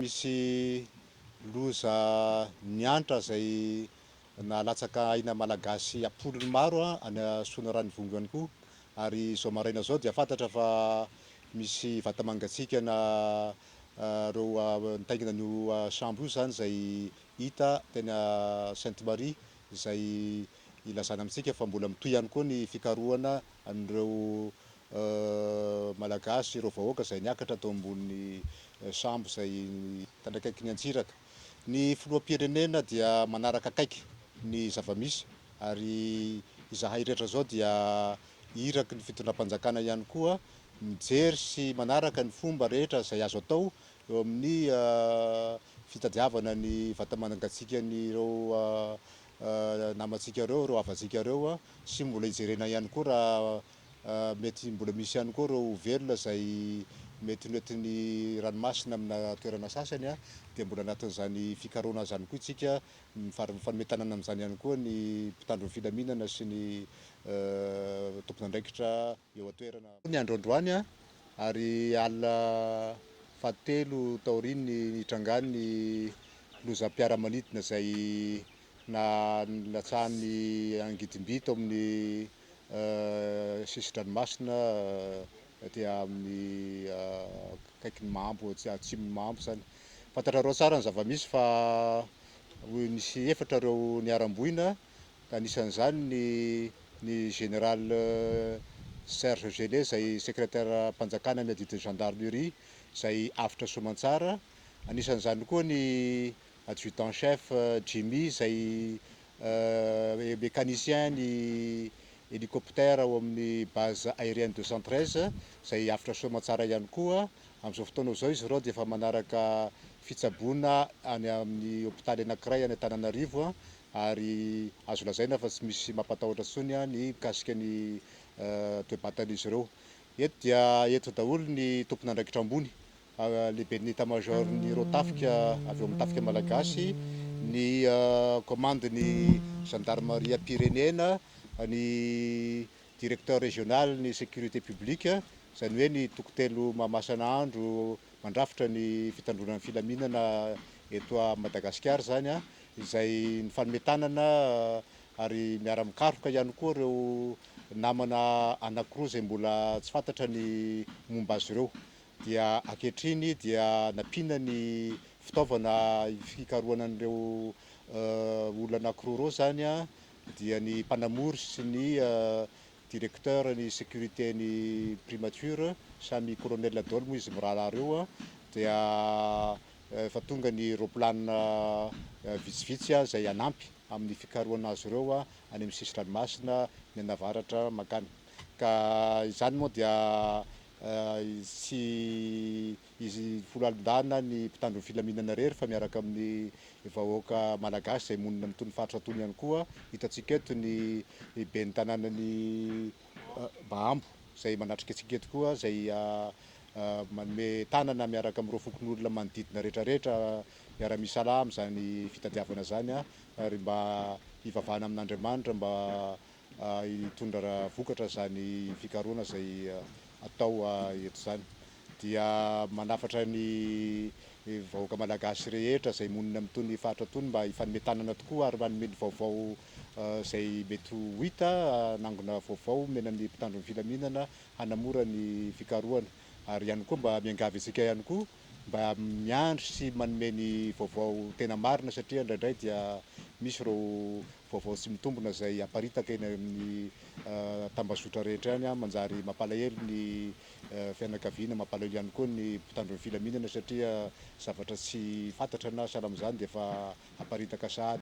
Misy loza niantra izay nahalatsaka aina malagasy am-polony maro any Soanarano-Ivongo ihany koa ary izao maraina izao dia fantatra fa misy vata mangatsiakana ireo nitaingina an'io sambo io izany izay hita teny Sainte Marie izay Ilazana amintsika fa mbola mitohy ihany koa ny fikarohana an'ireo Malagasy, ireo vahoaka izay niakatra tao ambony sambo izay tandrakaikin'ny antsiraka. Ny Filoham-pirenena dia manaraka akaiky ny zava-misy ary izahay rehetra izao dia iraky ny Fitondram-panjakana ihany koa mijery sy manaraka ny fomba rehetra izay azo atao eo amin'ny fitadiavana ny vata-mangatsiakan'ireo namantsika ireo, ireo havantsika ireo a, sy mbola hijerena ihany koa raha mety mbola misy ihany koa ireo velona izay mety noentin'ny ranomasina amina toerana sasany a, dia mbola anatin'izany fikarohana izany koa isika, mifar- mifanome tanana amin'izany ihany koa ny mpitandro ny filaminana sy ny tompon'andraikitra. eo an-toerana. Ny andro androany ary alina fahatelo taorian'ny nitrangan'ny lozam-piaramanidina izay nalatsahan'ny angidimby tao amin'ny sisin-dranomasina aty amin'ny akaikin'i Mambo, atsimon'i Mambo izany. Fantatrareo tsara ny zava-misy fa nisy efatra ireo niharam-boina. ka anisan'izany ny ny Général Serge Gellé izay Secrétaire-mpanjakana amin'ny adidin'ny Gendarmerie izay avotra soamantsara, anisan'izany koa ny Adjudant Chef Jimmy izay Mécanicien ny Hélicoptère ao amin'ny Base Aérienne deux cent treize izay avotra soamantsara ihany koa, amin'izao fotoana izao izy ireo dia efa manaraka fitsaboana any amin'ny Hopitaly anakiray any Antananarivo ary azo lazaina fa tsy misy mampatahotra intsony ny mikasika ny toe-batan'izy ireo. Eto dia eto daholo ny tompon'andraikitra ambony, lehiben'ny état major-n'ireo tafika avy ao amin'ny tafika malagasy, ny commande-n'ny zandarimaria pyrénéenne, ny directeur régional-n'ny sécurité publique, izany hoe ny toko-telo Mahamasina andro mandrafitra ny fitandroana ny filaminana eto Madagasikara izany, izay nifanome tanana ary miara-mikaroka ihany koa ireo namana anankiroa izay mbola tsy fantatra ny momba azy ireo dia ankehitriny dia nampiana ny fitaovana fikarohana an'ireo olona anankiroa ireo izany dia ny mpanamory sy ny directeur ny sécurité ny primature samy colonel daholo moa izy mirahalahy ireo dia Efa tonga ny roaplanina vitsivitsy izay hanampy amin'ny fikarohana azy ireo any amin'ny sisin-dranomasina mianavaratra mankany. Ka izany moa dia tsy izy folo alin-dahana ny mpitandro ny filaminana irery fa miaraka amin'ny vahoaka malagasy izay monina amin'itony faritra itony ihany koa. Hitantsika eto ny ben'ny tanànan'i Bahambo izay manatrika antsika eto koa izay manome tanana miaraka amin'ireo fokonolona manodidina rehetrarehetra miara-misalahy amin'izany fitadiavana izany ary mba hivavahana amin'Andriamanitra mba hitondra vokatra izany fikarohana izay atao eto izany. Dia manafatra ny vahoaka malagasy rehetra izay monina amin'itony faritra itony mba hifanome tanana tokoa ary manome ny vaovao izay mety ho hita, hanangona vaovao omena ny mpitandro ny filaminana hanamora ny fikarohana ary ihany koa mba miangavy antsika ihany koa mba miandry sy manome ny vaovao tena marina satria indraindray dia misy ireo vaovao tsy mitombina izay aparitaka eny amin'ny tambazotra rehetra any an, manjary mampalahelo ny fianakaviana, mampalahelo ihany koa ny mpitandro ny filaminana satria zavatra tsy fantatra na sahala amin'izany dia efa aparitaka sahady.